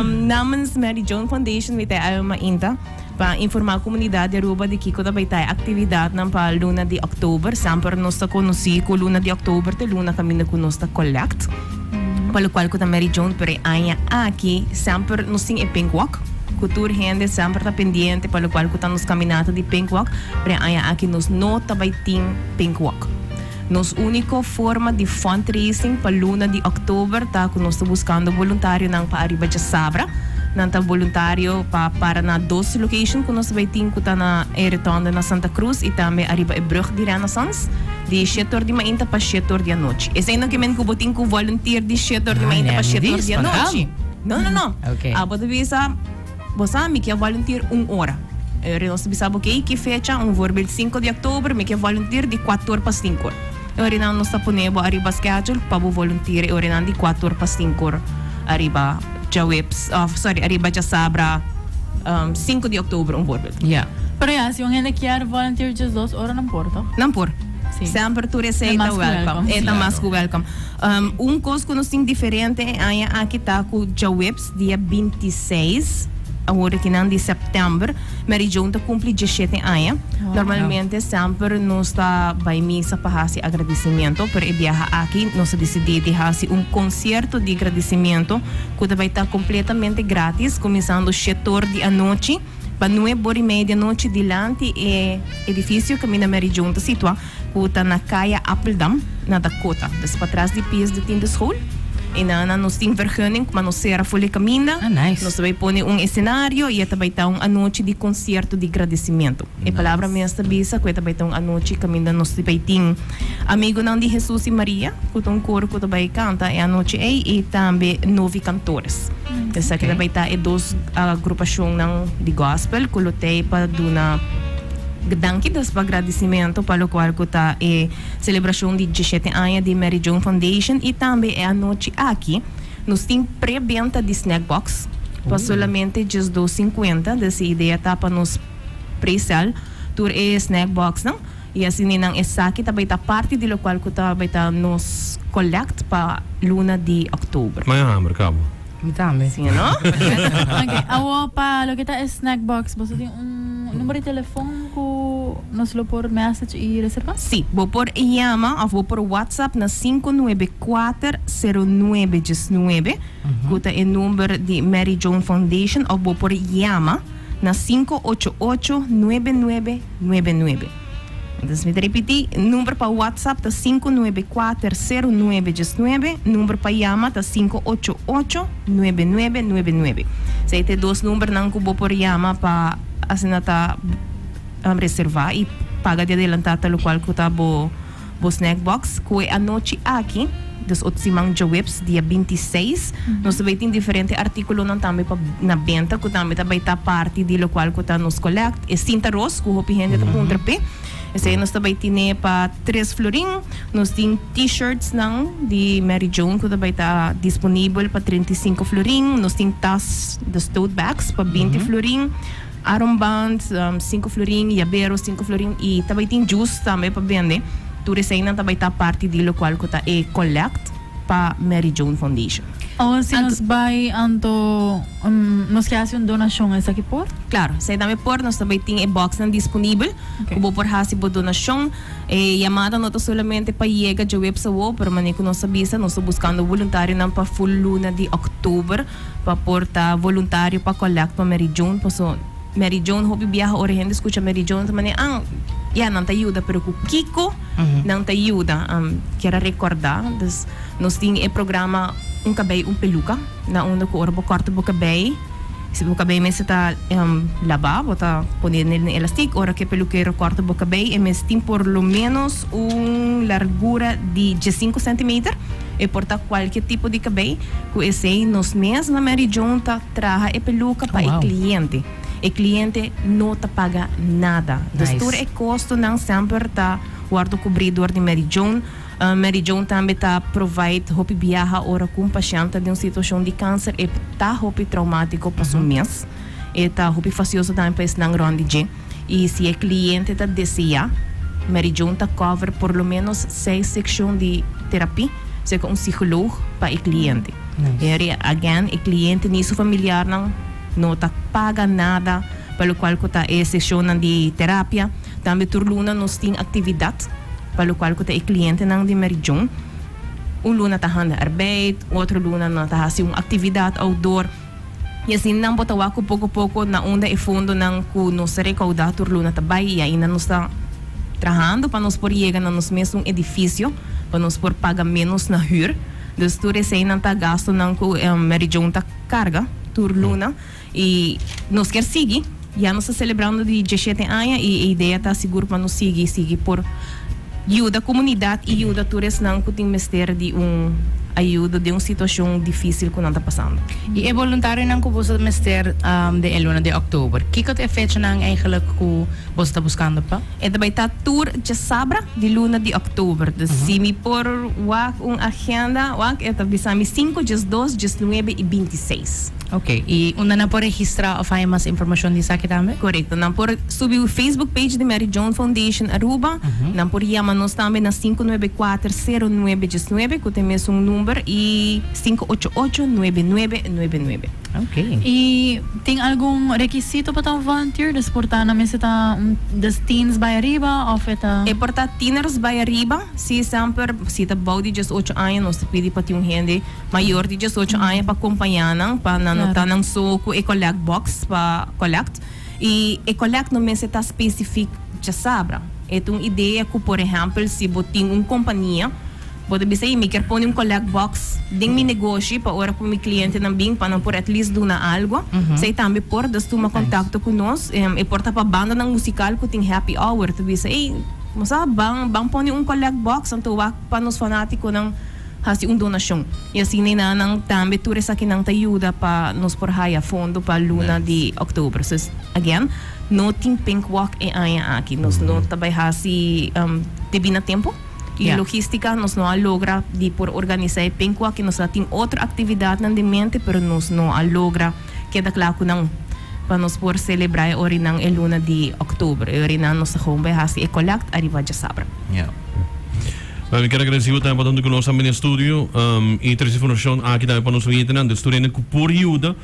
Namens Mary Joan Foundation mi ta e Alma Inta pa informa comunidad di Aruba di kico ta bay ta e actividadnan pa luna di October. Samper nos ta conoci cu luna di October ta e luna caminda cu nos ta collect. Pa lo cual cu ta Mary Joan pero e aña aki semper nos tin e pink walk cu tur hende semper ta pendiente pa lo cual cu ta nos caminata di pink walk pero e aña aki nos no ta bay tin pink walk. Nos úniko forma di fundraising pa luna di òktober ta ku nos ta buskando boluntarionan pa ariba dje sabra. Nan ta boluntario pa para na dos lokashon ku nos ta bai tin ku ta na e Retònde na Santa Krus i tambe ariba e brùg di Renaissance di shete or di mainta pa shete or di anochi. Esei no ke men ku bo tin ku volunteer di shete or di mainta pa shete or di anochi. No, no, no. Abo ta bisa. Bo sa, mi ke volunteer un ora. Ora nos ta bisa bo kei, ki fecha, un voorbeeld sinku di oktober, mi ke volunteer di kuator pa sinkur. E oranan nos ta pone bo ariba schedule pa bo volunteer e oranan di kuator pa sinkur ariba djaweps, òf sòri, ariba djasabra sinku di oktober un voorbeeld. Ya. Pero ya, si un hende kier volunteer djesdos ora nan por to? Nan por. Si. Semper tur esei ta welkom. E ta mas ku welkom. Un kos ku nos tin diferente e aña aki ta ku djaweps. Dia binti seis awor di nan di sèptèmber Mary Joan ta kumpli djishete aña. Normalmente semper nos ta bai misa pa hasi agradisimentu, pero e biaha aki nos a disidí di hasi un konsierto di gradisimentu ku ta bai ta kompletamente grátis, kuminsando shet or di anochi pa nueb or i media di anochi dilanti e edifisio kaminda Mary Joan ta situá. ku ta na kaya Appeldam na Dakota, dus patras di pies di tin di school. E na na nos tin vergunning, ma nos sera for di kaminda. Ah, nice. Nos ta bai pone un escenario i e ta bai ta un anochi di concierto di gradecimiento. E palabra mes ta bisa ku e ta bai ta un anochi kaminda nos ta bai tin Amigunan di Hesus i Maria, ku ta un coro ku ta bai canta e anochi ei, i tambe novi cantores. Esaki ta bai ta e dos agrupacionnan di gospel ku lo tei pa duna. Danki des pa gradisimentu pa lokual ku ta e selebrashon di diesshete aña di Mary Joan Foundation i tambe e anochi aki nos tin prebenta di snack box pa solamente dies dos sinkuenta. Des e idea ta pa nos presèl tur e snack boxnan i asina nan esaki ta bai ta parti di lokual ku ta bai ta nos kòlèkt pa luna di òktober. Maya hamber kaba. Mi tambe. Sí o no? Ok, awor pa loke ta e snack box, boso tin un numero di telefon cu nos lo por message y reserva? Sí, bo por yama of bo por WhatsApp na sinku nuebe kuater seru nuebe diesnuebe, cu ta e number di Mary Joan Foundation, of bo por yama na sinku ocho ocho nuebe nuebe nuebe nuebe. Dus mi ta ripití, number pa WhatsApp ta sinku nuebe kuater seru nuebe djes nuebe, number pa yama ta sinku ocho ocho nuebe nuebe nuebe nuebe. Esei ta e dos numbernan ku bo por yama pa asina ta reservá i paga di adelantá ta lokual ku ta bo. Bo snack box koe anochi aki, dus ot siman djaweps dia binti seis, nos ta bai tin diferente artíkulonan tambe pa na benta ku tambe ta bai ta parti di lokual ku ta nos kòlèkt. E sinta ros ku hopi hende ta puntra p'e, esei nos ta bai tine pa tres florin. Nos tin T-shirtsnan di Mary Joan ku ta bai ta disponibel pa trenta i sinku florin. Nos tin tas, dus tote bags, pa binti florin. Aronband, sinku florin, yabero, sinku florin, i ta bai tin jus tambe pa bende. Tur eseinan ta bai ta parti di lokual ku ta e collect pa Mary Joan Foundation. Awan si nos bai anto nos ke hasi un donashon esaki por? Klaro, esei tambe por. Nos ta bai tin e boksnan disponibel ku bo por hasi bo donashon. E yamada no ta solamente pa yega djoweps awor, pero mane ku nos a bisa nos ta buskando voluntarionan pa full luna di òktober. pa por ta voluntario pa collect pa Mary Joan paso Mary Joan hopi biaha ora e hende scucha Mary Joan ta manera ah ya nan ta yuda pero cu kico nan ta yuda am kier a recorda dus nos tin e programa un cabei un peluca na unda cu ora bo corta bo cabei si bo cabei mester ta laba bo ta pone nel den elastic ora cu e peluquero a corta bo cabei e mes tin por lo menos un largura di diescinco centimeter. E por ta cualke tipo di cabey, cu esey nos mes na Mary Joan ta traha e peluca pa e cliente. E cliente no ta paga nada. Dus tur e costonan semper ta wordo cubri door di Mary Joan. Mary Joan tambe ta provide hopi biaha ora cu un pashent ta den un situacion di cancer. E ta hopi traumatico pa su mes. E ta hopi facioso tambe pa esnan rond di dje. i si e kliente ta deseá, Mary Joan ta kòver por lo ménos seis sekshon di terapí serka un sikolog pa e kliente. Here again, e kliente ni su familiarnan no ta paga nada pa lokual ku ta e sekshonnan di terapia. Tambe tur luna nos tin aktividat pa lokual ku ta e klientenan di Mary Joan. Un luna ta handa arbeid, otro luna nan ta hasi un aktividat outdoor. I asin nan bo ta wak ku poko poko na unda e fondonan ku nos ta rekaudá tur luna ta bai i ainda nos ta trahando pa nos por yega na nos mes un edifisio pa nos por paga ménos na hür. Dus tur eseinan ta gastunan ku Mary Joan ta karga tur luna i nos kier sigui. Ya nos ta selebrando di diesshete aña y e idea ta sigur pa nos sigui y sigui por yuda comunidad y yuda tur esnan cu tin mester di un ayudo den un situacion dificil cu nan ta pasando. Y e voluntarionan cu boso ta mester den e luna di october, kico ta e fechanan eigenlijk cu boso ta buscando pa? E ta bay ta tur djasabra di luna di october. Dus si mi por wak un agenda wak e ta bisa mi cinco, diesdos, diesnuebe y bintiseis. Ok, y unda nan por registra of haña mas informacion di esaki tambe? Corecto, nan por subi e Facebook page di Mary Joan Foundation Aruba, nan por yama nos tambe na sinku nuebe kuater sero nuebe djes nuebe, cu ta e mesun number, y sinku ocho ocho nuebe nuebe nuebe nuebe. Ok. Y tin algun requisito pa ta un volunteer? Dus por ta, nan mester ta un, dus teens bay ariba of e ta? E por ta tieners bay ariba, si esemper, si ta bou di djes ocho aña, nos ta pidi pa tin un hende, mayor di diesocho aña pa compaña nan pa nan no ta nan so cu e collect box pa collect y e collect no mester ta specific dje sabra e ta un idea cu por ehempel si bo tin un compania bo ta bisa y mi kier pone un collect box den mi negoshi pa ora cu mi cliente nan bin pa nan por at least duna algo esey tambe por dus tuma contacto cu nos e por ta pa bandanan musical cu tin happy hour ta bisa ey nos a ban ban pone un collect box anto wak pa nos fanaticonan. hasi un donashon i así nenanan tambe tur esakinan ta yuda pa nos por haya fondo pa luna di October so again no tin pink walk e aña aki nos no ta bai hasi debí na tempo i logistica nos no a logra di por organisa e pink walk nos a tin otro actividadnan den mente pero nos no a logra. Keda kla ku nan pa nos por selebrá e orinan e luna di òktubru. E orinan nos ta gewoon bai hasi e kòlèkt ariba djasabra. Ya. Bèn, mi kier agradesí bo tempu atuntu ku nos a bini e studio i trese informashon aki tambe pa nos oyente nan. Dus tur hende ku por yuda,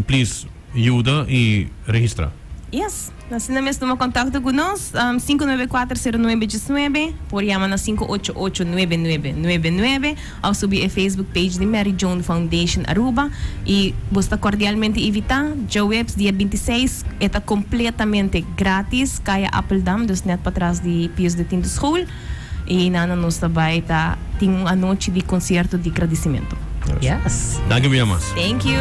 please yuda i registrá. Yes, asina mes tuma contacto cu nos, am, sinku nuebe kuater sero nuebe djes nuebe, por yama na sinku ocho ocho nuebe nuebe nuebe nuebe, of subi e Facebook page di Mary Joan Foundation Aruba, y bos ta cordialmente invita, djaweps dia binti i seis, e ta completamente gratis, Kaya Appeldam, dus net patras di Pius de Tinto School, y nana nos ta bay ta tin un anochi di concierto di gradicimento. Yes. Danki mi amas. Thank you.